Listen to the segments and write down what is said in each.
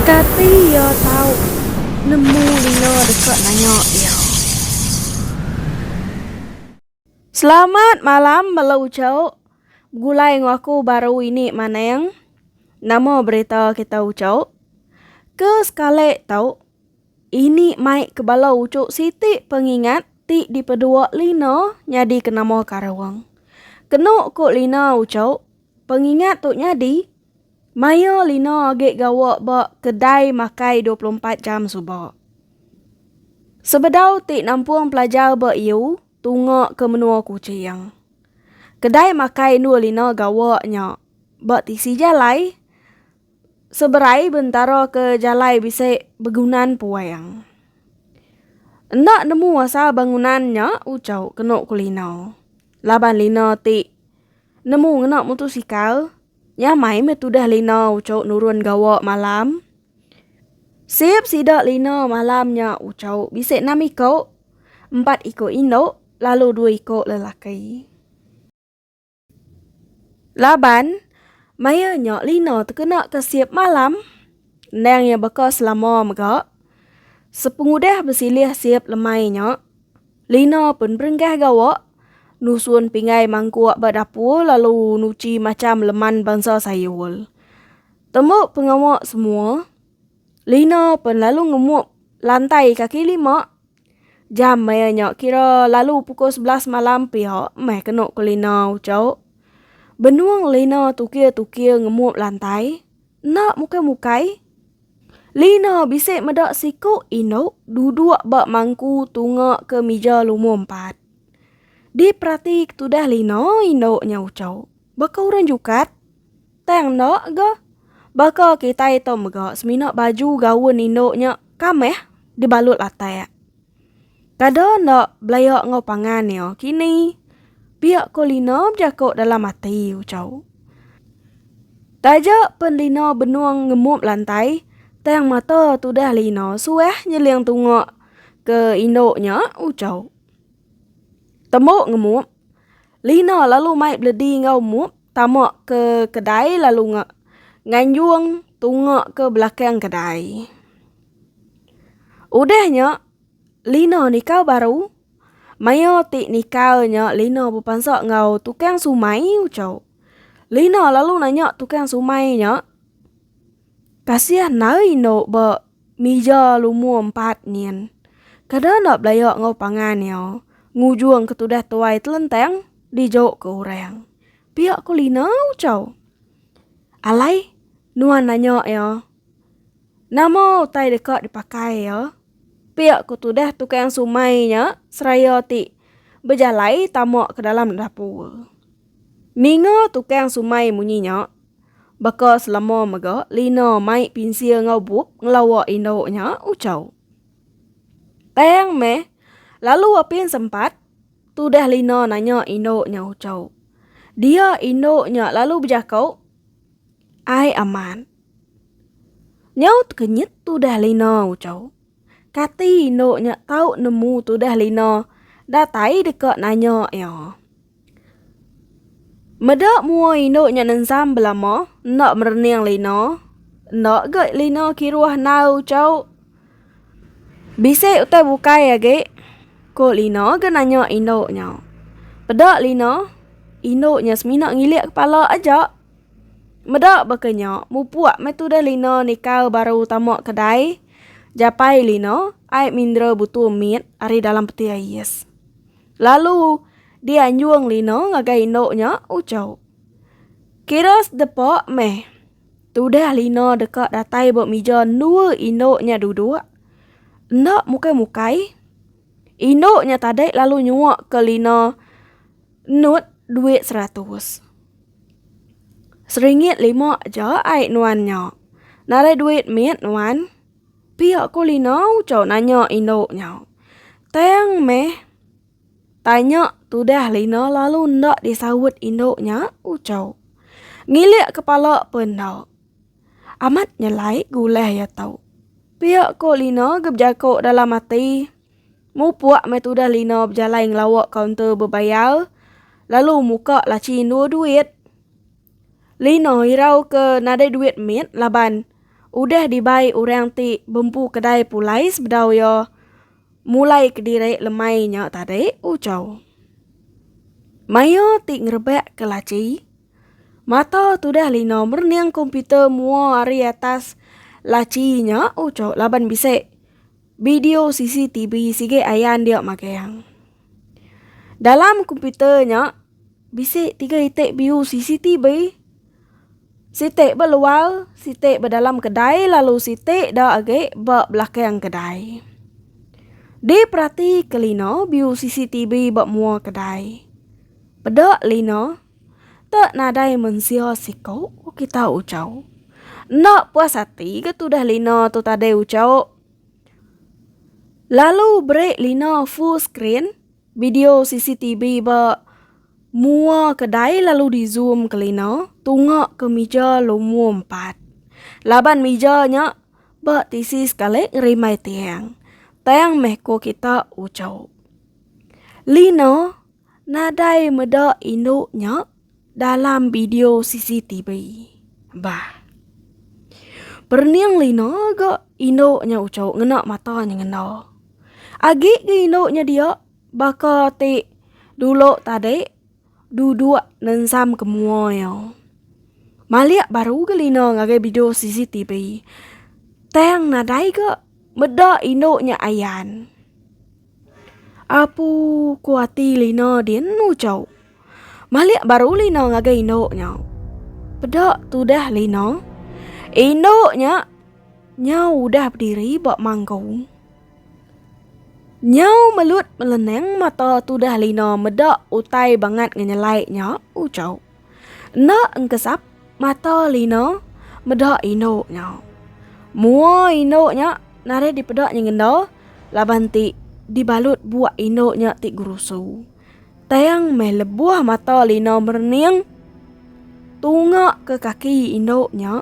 Kati iya tau nemu lino deka nanya iya? Selamat malam bala uchauk. Begulai enggau aku baru ini maneng. Nama berita kita uchauk? Ke sekali tau Ini mai ke bala uchu siti pengingat ti dipedua Lina nyadi ke nama Karawang. Kenu ku Lina uchu, pengingat tu nyadi maya Lina agi gawa ba kedai makai dua puluh empat jam suba. Sebedau ti nampung pelajar ba iu tunga ke menua Kuching. Kedai makai endur Lina gawa nya ba tisi jalai Seberai bentara ke jalai bisi begunan puang. Enda nemu asal bangunan nya ucau kenu kulinau. Laban Lina ti nemu ngena mutusikal nyamai meh tudah Lina ucau nurun gawa malam. Sip sida Lina malam nya ucau bisi enam iko, empat iko indu lalu dua iko lelaki. Laban, maya nya Lina tekena ke sip malam endang iya baka selama mega. Sepengudah besilih sip lemai nya, Lina pun berenggah gawa, nusun pinggai mangkuk ba dapur lalu nuchi macham leman bansa sayur. Tembu pengawa semua, Lina pun lalu ngemuk lantai kaki lima Jam maya nya kira lalu pukul sebelas malam pia meh kenu ke lina uco. Benung lina tukir-tukir ngemuk lantai. Enda mukai-mukai. Lina bisi meda siku indu duduk ba mangku tunga ke mija lumu empat. Diperati tudah lina indu nya uco. Baka urang jukat. Tang enda ga. Baka kitai tu mega semina baju gaun indu nya kamih dibalut latak. Kada enda belaya enggau pangan iya kini. Pia ko Lina bejaku dalam ati ucau. Taja pen Lina benung ngemup lantai, tang mata tudah Lina suah nyeling tunga ke indu nya ucau. Tembu ngemup. Lina lalu mai beledi enggau Mup tama ke kedai lalu nganjung tunga ke belakang kedai. Udah nya Lina nikau baru maya ti nikau nya Lina bepansa enggau tukang sumai ucau. Lina lalu nanya tukang sumai nya kasih nai endo ba Mija lumur empat nyin. Kada enda belaya enggau pangan iya, ngujung ke tudah tuai telentang dijauhka orang. Pia ku Lina Uchau. Alai, nuan nanya iya. Nama utai deka dipakai iya? Pia ku tudah tukang sumai nya seraya ti bejalai tama ke dalam dapur. Ninga tukang sumai munyi nya, Baka selama mega Lina mai pinsil enggau bup ngelawa indu nya Uchau. Tang meh lalu apin sempat tudah Lina nanya indu nya Uchau. Dia indu nya lalu bejako, Ai aman. Nyau tekenyit tudah Lina Uchau. Kati indu nya tau nemu tudah Lina datai deka nanya iya. Meda mua indu nya nensam belama enda merening lina enda ga lina kiruh nau chau bisi utai bukai agi ko lina ga nanya indu nya peda lina indu nya semina ngilik kepala aja meda baka nya mupuk meh tudah lina nikau baru tama kedai japai lina ai mindra butu mit ari dalam peti ais. Lalu, dianjung Lino ngagai indu nya, Uchok. Kira sedepa meh. Tudah Lino deka datai ba mija endua indu nya duduk. Enda mukai-mukai. Indu nya tadi lalu nyuak ke Lino nut duit seratus. Seringgit lima aja ai nuan nya. Narai duit mit nuan. Pia ko Lina ucau nanya indu nya. Tang meh tanya tudah Lina lalu enda disaut indu nya ucau. Ngilik kepala pe enda. Amat nyelai gulai iya tu. Pia ko Lina ke bejako dalam ati. Mupuk meh tudah Lina bejalai ngelawa kaunter bebayar lalu muka laci endur duit. Lino irau ke nadai duit mit laban udah dibai orang ti bempu kedai pulai sebedau iya mulai kediri lemai nya tadi, ucau. Maya ti ngerebak ke laci, mata tudah Lino merening komputer mua ari atas laci nya, ucau laban bisi bideo CCTV sigi ayan dia magang. Dalam komputer nya bisi tiga iti biu CCTV, siti ba luar, siti ba dalam kedai lalu siti da agi ba belakang kedai. Diperatika Lina biu CCTV ba mua kedai. Peda Lina, Te nadai mensia siko, ku kita Ujau. Enda puas ati ga tudah Lina tu tadai Ujau. Lalu beri lina full screen video CCTV ba mua kedai lalu di zoom ke lina tunga ke mija lumur empat. Laban mija nya ba tisi sekali ngerimbai tiang. Tang meh ko kita uchu. Lina nadai meda indu nya. dalam video CCTV. Bah. Perening Lina ga indu nya ucu ngena mata nya ngena. Agi ga indu nya dia baka ti dulu tadi duduk nensam ke mua iya. Malik baru ga Lina ngagai video CCTV. Tang nadai ga meda indu nya ayan. Apu ku ati Lina dienu cau. Malik baru Lina ngagai indu nya. Peda tudah Lina. Indu nya nyau udah bediri ba mangku. Nyau melut meleneng mata tudah Lina meda utai bangat ngenyelai nya, ucau. Enda engkesap mata lina meda indu nya. Mua indu nya narit dipeda nyengenda laban ti dibalut buak indu nya ti gerusu. Tang meh lebuh mata lina merening tunga ke kaki indu nya.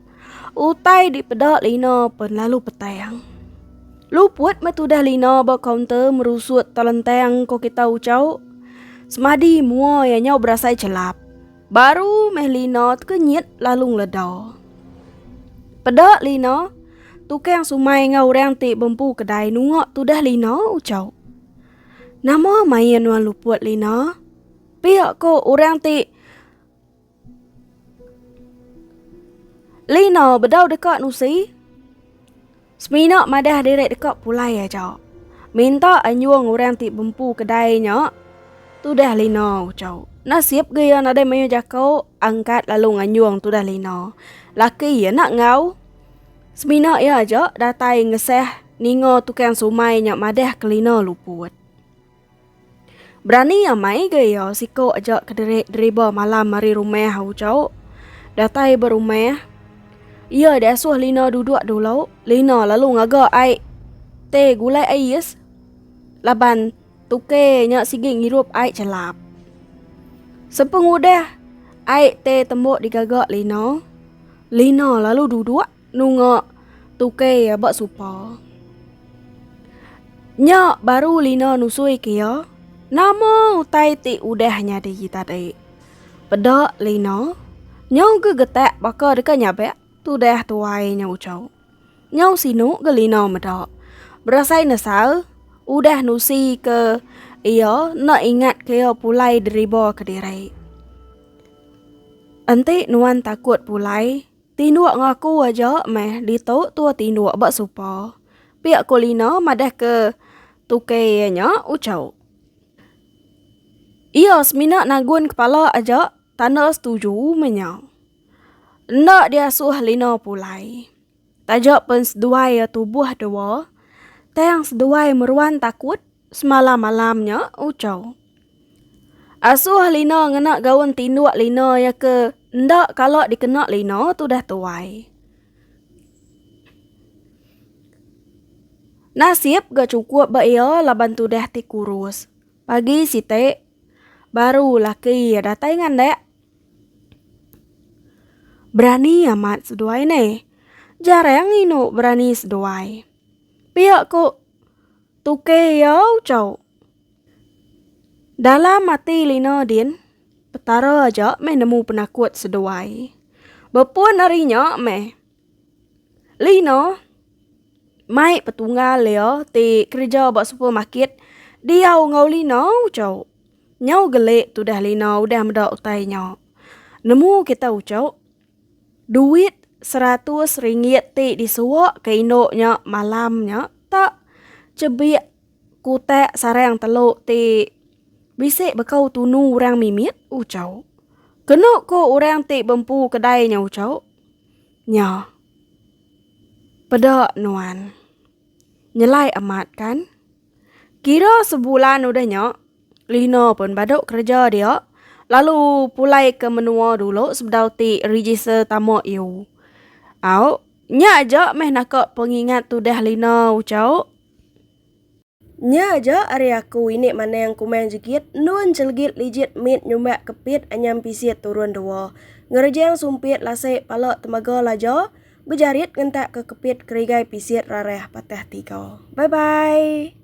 Utai dipeda Lina pen lalu petang. Luput meh tudah Lina ba kaunter merusut telentang ko kita ucau. Semadi mua iya nyau berasai chelap. Baru meh Lina tekenyit lalu ngeleda. Peda Lina, tukang sumai enggau orang ti bempu kedai nunga tudah Lina ucau. Nama main wan Luput Lina? Pia ko orang ti Lina bedau deka nusi semina madah diri deka pulai aja. Minta anjung orang ti bempu kedai nya tudah Lina uchau. Nasib ga iya nadai mayuh jako angkat lalu nganjung tudah Lina. Laki iya enda enggau semina iya aja datai ngesah ninga tukang sumai nya madah ke Lina luput. Berani amai ga iya siko aja kediri deriba malam ari rumah ujo datai ba rumah iya di asuh Lina duduk dulu Lina lalu ngaga ai te gulai ais laban tuke nya sigi ngirup ai chelap sepeng udah ai te tembu digaga Lina Lina lalu duduk. Nunga tukai iya ba supa. Nya baru Lina nusui ke iya, Nama utai ti udah nyadi tadi? Peda Lina, Nyau ga getak baka deka nyabak tudah tuai nya ucau. Nyau sinu ga Lina meda. Berasai nesal udah nusi ke iya enda ingat ke iya pulai deriba kediri. Enti nuan takut pulai, Tinduk ngaku aja meh ditu tua tinduk ba supa. Pia ko Lina madah ke tuke iya nya uchauk. Iya semina nagun kepala aja tanda setuju meh nya. Enda diasuh Lina pulai. Taja pen seduai iya tubuh dua, tang seduai meruan takut. semalam alam nya ucau. Asuh Lina ngena gaun tinduk Lina ya ke enda kala dikena Lina tudah tuai. Nasib ga cukup ba iya laban tudah ti kurus. Pagi siti baru laki iya datai ngandak. Berani amat seduai ne. Jarang indu berani seduai. Pia ku. Tuke iya ucau. Dalam ati Lina din, Petara aja meh nemu penakut seduai. Bepun ari nya meh, Lina mai petunggal iya ti kereja ba supermarket diau enggau Lina ucau. Nyau gele tudah Lina udah meda utai nya. Nemu kita ucau, Duit seratus ringgit ti disuwak ke indu nya malam nya tak chebik kutak sarang telu ti bisi bekau tunu orang mimit uchau. Kenu ku orang ti bempu kedai nya uchau, Nya peda nuan. Nyelai amat kan. Kira sebulan udah nya, Lina pun badu kereja dia lalu pulai ke menua dulu sebedau ti register tama iu. Au, nya aja meh naka pengingat tudah Lina ucau. Nya aja ari aku ini manang kumang jegit endun celegit lijit mit nyumbak kepit anyam pisit turun dua. Ngerejang sumpit lasek pala temaga laja. Bejarit ngentak ke kepit kerigai pisit rarah patah tiga. Bye bye.